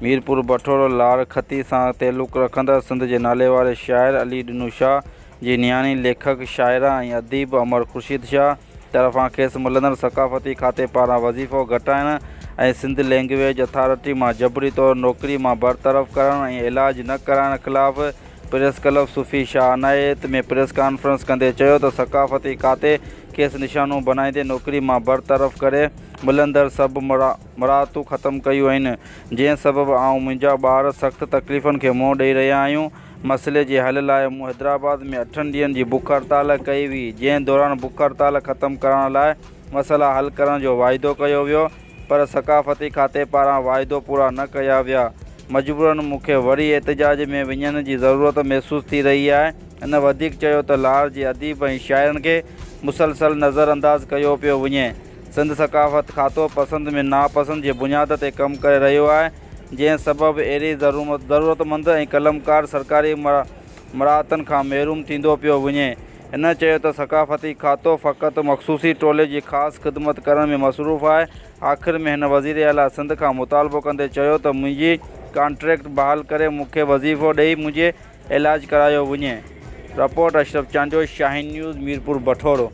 ميرپور بٺور لاڙ کتي سان تعلق رکندڙ سنڌ جي ناليواري شاعر علي ڏنو شاهه جي نياڻي ليکڪ شاعره ۽ اديب امڙ خورشيد شاهه طرفان کيس ملندڙ ثقافتي کاتي پاران وظيفو گهٽائڻ ۽ سنڌ لينگويج اٿارٽي مان جبري طور نوڪري مان برطرف ڪرڻ ۽ علاج نه ڪرائڻ خلاف press club Sufi Shah Inayat ۾ press conference ڪندي چيو ته ثقافتي کاتي کيس نشانو بڻائيندي نوڪري مان برطرف ڪري ملندڙ سڀ مراعتون ختم ڪيون آهن جنهن سبب آئون منهنجا ٻار سخت تڪليفن کي منهن ڏئي رهيا آهيون مسئلي جي حل لاء مون حيدرآباد ۾ اٺن ڏينهن جي بک هڙتال ڪئي هئي جنهن دوران بک هڙتال ختم ڪرائڻ لاء مسئلا حل ڪرڻ جو واعدو ڪيو ويو پر ثقافتي کاتي پاران واعدو پورا نه ڪيا ويا، مجبورن مون کي وري احتجاج ۾ وڃڻ جي ضرورت محسوس ٿي رهي آهي. هن وڌيڪ چيو ته لاهور جي اديب ۽ شاعرن کي مسلسل نظر انداز ڪيو پيو وڃي، سنڌ ثقافت کاتو پسند ۾ ناپسند جي بنياد تي ڪم ڪري رهيو آهي، جنهن سبب اهڙي ضرورتمند ۽ قلمڪار سرڪاري مراعتن کان محروم ٿيندو پيو وڃي، هن چيو ته ثقافتي کاتو فقط مخصوصي ٽولي جي خاص خدمت ڪرڻ ۾ مصروف آهي، آخر ۾ هن وزير اعليٰ سنڌ کان مطالبو ڪندي چيو ته منهنجي ڪانٽريڪٽ بحال ڪري مون کي وظيفو ڏئي منهنجي علاج ڪرايو وڃي. Report Ashraf Chandio Shaheen news Mirpur Bathoro.